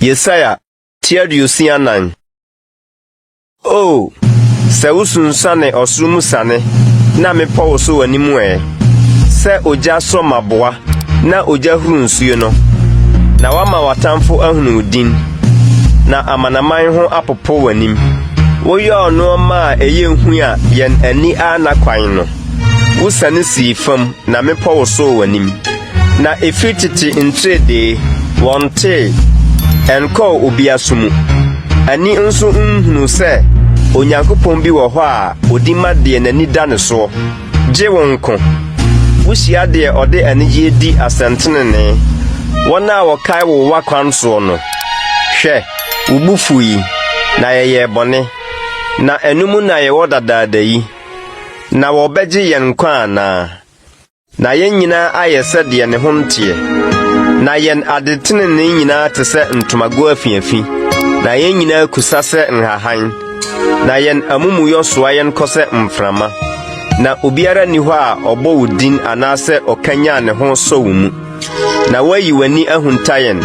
Yesaia ti aduosia nan. O, sɛ wosunsuane ɔsoro mu sane na mepɔ wo so w'anim ɛ, sɛ ogya sɔ maboa na ogya huru nsuo no, na wama w'atamfo ahunu wo din, na amanaman ho apopo w'anim. Woyɔɔ nnoɔma a ɛyɛ hu a yɛn ani anna kwan no. Wosiane sii fam na mmepɔ wosoo w'anim. Na ɛfiri tete ntiredee, wɔntee, ɛnkɔɔ obi aso mu. Ani nso nhunuu sɛ Onyankopɔn bi wɔ hɔ a ɔdi ma deɛ n'ani da ne soɔ, gye wo nko. Wohyia deɛ ɔde anigyeɛ di asɛntenenee, wɔn a wɔkae wo w'akwan soɔ no. Hwɛ! Wo bo fuw yi, na yɛyɛɛ bɔne, na ɛno mu na yɛwɔ dadaada yi. Na wɔbɛgye yɛn nkwa anaa? Na yɛn nyinaa ayɛ sɛ deɛ ne ho nteɛ, na yɛn adetenenee nyinaa te sɛ ntomago afiafi, na yɛn nyinaa kusa sɛ nhahan, na yɛn amumuyɔ soa yɛn kɔ sɛ mframa. Na obiara nni hɔ a ɔbɔ wo din anaasɛ ɔkanyan ne ho sɔ wo mu. Na woayi w'ani ahunta yɛn,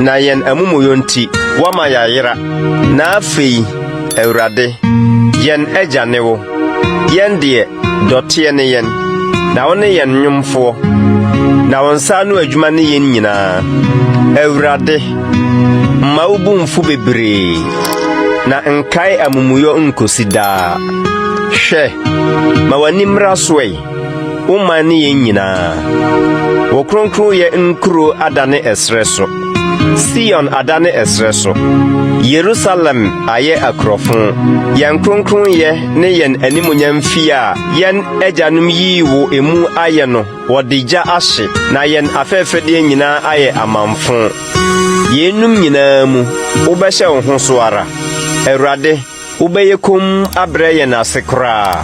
na yɛn amumuyɔ nti, woama yɛayera. Na afei, Awurade, yɛn agya ne wo. Yɛn deɛ, dɔteɛ ne yɛn, na wo ne yɛn nnwomfoɔ, na wo nsa ano adwuma ne yɛn nyinaa. Awurade, mma wo bo mfu bebree, na nkae amumuyɔ nkosi daa. Hwɛ, ma w'ani mmra so ɛ. Wo man ne yɛn nyinaa. Wo kronkronyɛ nkuro adane ɛserɛ so. Sion adane ɛserɛ so. Yerusalem ayɛ akurɔfo. Yɛn kronkronyɛ ne yɛn animuonyam fie a yɛn agyanom yii wo emu ayɛ no, wɔde gya ahye, na yɛn afɛɛfɛdeɛ nyinaa ayɛ amamfõ. Yeinom nyinaa mu, wobɛhyɛ wo ho so ara. Awurade, Wobɛyɛ komm abrɛ yɛn ase koraa.